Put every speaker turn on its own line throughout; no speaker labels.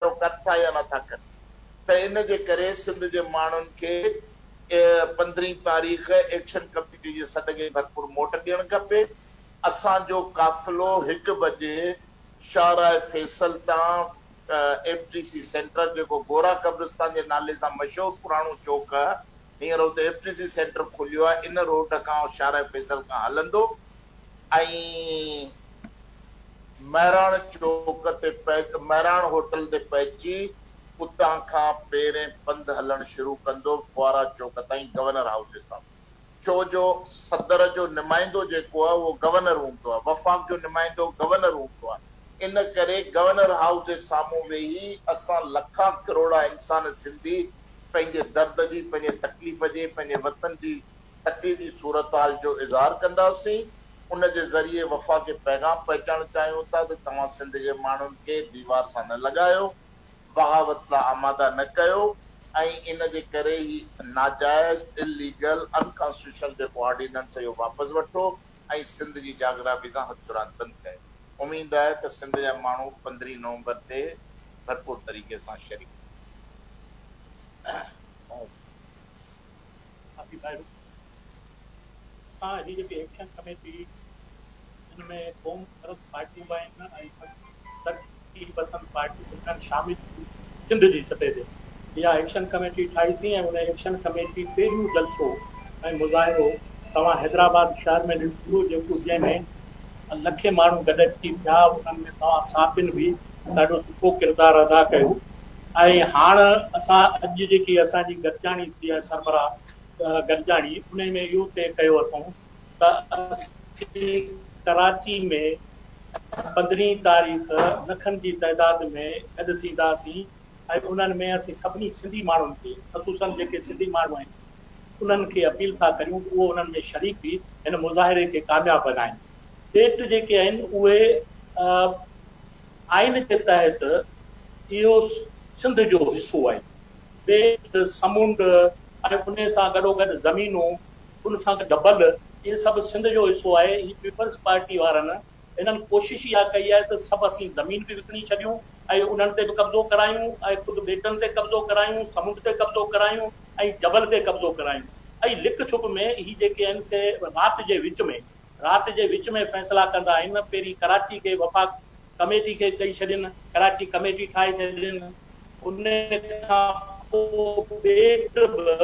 اهو ڪن ٿا يا نٿا ڪن ته ان جي ڪري سنڌ جي ماڻهن کي پندرهين تاريخ ايڪشن ڪميٽي جي سڏ کي ڀرپور موٽ ڏيڻ کپي اسان جو قافلو هڪ بجي شاهراهه فيصل تان ايف ٽي سي سينٽر جيڪو گورا قبرستان جي نالي سان مشهور پراڻو چوڪ هينئر اتي ايف ٽي سي سينٽر کليو آهي ان روڊ کان شاهراهه فيصل کان هلندو ۽ مهراڻ چوڪ تي مهراڻ هوٽل تي پهچي اتان کان پيرين پنڌ هلڻ شروع ڪندو فوارا چوڪ تائين گورنر هائوس جي سامهون ڇو جو صدر جو نمائندو جيڪو آهي اهو گورنر هوندو آهي وفاق جو نمائندو گورنر هوندو آهي ان ڪري گورنر هائوس جي سامهون ويهي اسان لکا ڪروڙا انسان سنڌي پنهنجي درد جي پنهنجي تڪليف جي پنهنجي وطن جي ٽڪري جي صورتحال جو اظهار ڪنداسين، ان جي ذريعي وفاق کي پيغام پهچائڻ چاهيون ٿا ته توهان سنڌ جي ماڻهن کي ديوار سان نه لڳايو، بغاوت لا آماده نه ڪيو ۽ ان جي ڪري هي ناجائز، Illegal، Unconstitutional جيڪو آرڊيننس هي اهو واپس وٺو ۽ سنڌ جي جاگرافي سان هٿ راند بند ڪيو. اميد آهي ته سنڌ جا ماڻهو پندرهين نومبر تي ڀرپور طريقي سان شريڪ ٿيندا.
ساٿي ڀائرو! اسان هي جيڪي ايڪشن ڪميٽي ان ۾ قوم پرست پارٽيون به آهن ۽ ترقي پسند پارٽيون به انهن شامل ٿيون سنڌ جي سطح تي اها ايڪشن ڪميٽي ٺاهيسين ۽ ان ايڪشن ڪميٽي پهريون جلسو ۽ مظاهرو توهان حيدرآباد شهر ۾ ڏنو جيڪو جنهن ۾ لکين ماڻهو گڏجي ٿيا انهن ۾ توهان صحافين به ڏاڍو سٺو ڪردار ادا ڪيو ۽ هاڻ اسان اڄ جيڪي اسان جي گڏجاڻي ٿي آهي سربراهه گڏجاڻي انهي ۾ اهو طئي ڪيو اٿئون ته اسين ڪراچي ۾ پندرهين تاريخ لکن جي تعداد ۾ گڏ ٿينداسين ۽ انهن ۾ اسين سڀني سنڌي ماڻهن کي خصوصن جيڪي سنڌي ماڻهو آهن انهن کي اپيل ٿا ڪريون ته اهو انهن ۾ شريڪ ٿي هن مظاهري کي ڪامياب بنائين پيٽ جيڪي آهن اهي آئين جي تحت اهو سنڌ جو حصو آهي. ٻيٽ، سمنڊ ۽ انهي سان گڏوگڏ زمينون، ان سان گڏ گبل، اهي سڀ سنڌ جو حصو آهي. هي پيپلز پارٽي وارن هنن ڪوشش اها ڪئي آهي ته سڀ اسين زمين به وڪڻي ڇڏيون ۽ انهن تي به قبضو ڪرايون ۽ خود ٻيٽن تي قبضو ڪرايون، سمنڊ تي قبضو ڪرايون ۽ جبل تي قبضو ڪرايون ۽ لڪ ڇپ ۾ هي جيڪي آهن سي رات جي وچ ۾ رات جي وچ ۾ فيصلا ڪندا آهن، پهرين ڪراچي کي وفاق ڪميٽي کي ڏئي ڇڏين، ڪراچي ڪميٽي ٺاهي ڇڏين، ان کان پوء ٻيٽ به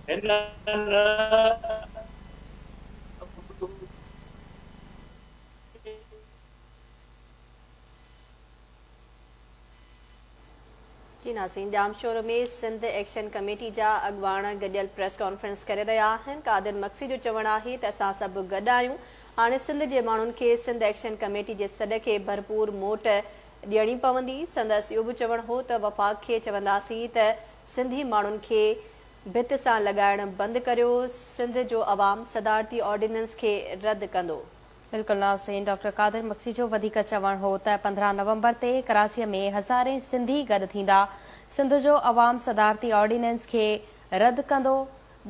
هنن به.
جي ناسين ڄامشورو ۾ سنڌ ايڪشن ڪميٽي جا اڳواڻ گڏيل پريس ڪانفرنس ڪري رهيا آهن قادر مگسي جو چوڻ آهي ته اسان سڀ گڏ آهيون هاڻي سنڌ جي ماڻهن کي سنڌ ايڪشن ڪميٽي جي سڏ کي ڀرپور موٽ ڏيڻي پوندي سندس اهو به چوڻ هو ته وفاق کي چونداسين ته سنڌي ماڻهن کي ڀت سان لڳائڻ بند ڪريو سنڌ جو عوام صدارتي آرڊيننس کي رد ڪندو بلڪل ناظرين
ڊاڪٽر قادر مگسي جو وڌيڪ چوڻ هو ته پندرهن نومبر تي ڪراچي ۾ هزارين سنڌي گڏ ٿيندا سنڌ جو عوام صدارتي آرڊيننس کي رد ڪندو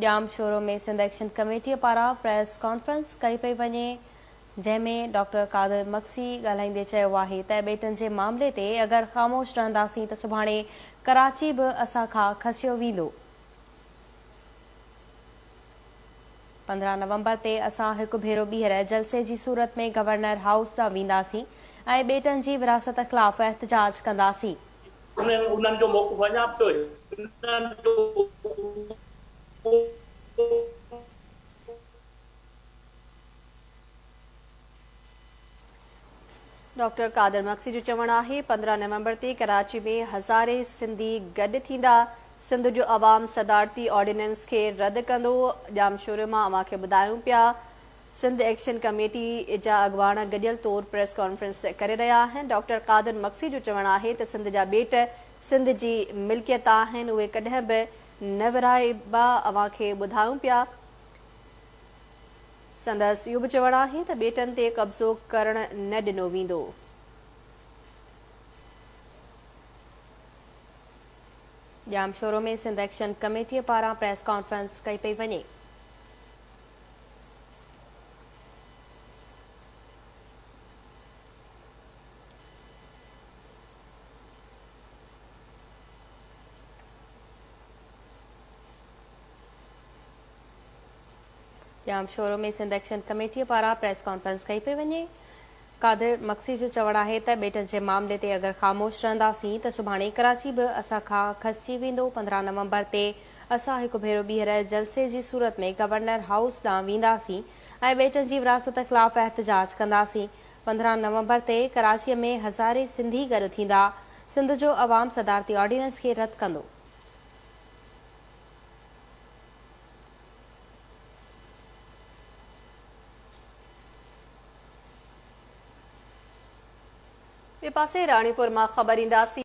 Jamshoro ۾ Sindh action committee پاران پريس ڪانفرنس ڪئي پئي وڃي جنهن ۾ ڊاڪٽر قادر مگسي ڳالهائيندي چيو آهي ته ٻيٽن جي معاملي تي اگر خاموش رهنداسين ته سڀاڻي ڪراچي به اسان کان کسيو ويندو. پندرهن نومبر تي اسان هڪ ڀيرو ٻيهر جلسي جي صورت ۾ گورنر هائوس ڏانهن وينداسين ۽ ٻيٽن جي ورهاست خلاف احتجاج ڪنداسين. انهن جو موقف اڃا به هنن
جو اهو.
ڊاڪٽر قادر مگسي جو چوڻ آهي پندرهن نومبر تي ڪراچي ۾ هزارين سنڌي گڏ ٿيندا، سنڌ جو عوام صدارتي آرڊيننس کي رد ڪندو، ڄامشوري مان اوهان کي ٻڌايون پيا سنڌ ايڪشن ڪميٽي جا اڳواڻ گڏيل طور پريس ڪانفرنس ڪري رهيا آهن، ڊاڪٽر قادر مگسي جو چوڻ آهي ته سنڌ جا ٻيٽ سنڌ جي ملڪيت آهن اهي ڪڏهن به نه ورهائبا اوهان کي ٻڌايون پيا. سندس اهو به چوڻ آهي ته ٻيٽن تي قبضو ڪرڻ نه ڏنو ويندو.
ڄامشورو ۾ سنڌ ايڪشن ڪميٽي پاران پريس ڪانفرنس ڪئي پئي وڃي. Jamshoro ۾ Sindh action committee پاران پريس ڪانفرنس ڪئي پئي وڃي، قادر مگسي جو چوڻ آهي ته ٻيٽن جي معاملي تي اگر خاموش رهنداسين ته سڀاڻي ڪراچي به اسان کان کسجي ويندو، پندرهن نومبر تي اسان هڪ ڀيرو ٻيهر جلسي جي صورت ۾ گورنر هائوس ڏانهن وينداسين ۽ ٻيٽن جي ورهاست خلاف احتجاج ڪنداسين، پندرهن نومبر تي ڪراچي ۾ هزارين سنڌي گڏ ٿيندا، سنڌ جو عوام صدارتي آرڊيننس کي رد ڪندو.
ٻئي پاسي راڻيپور مان خبر اينداسين.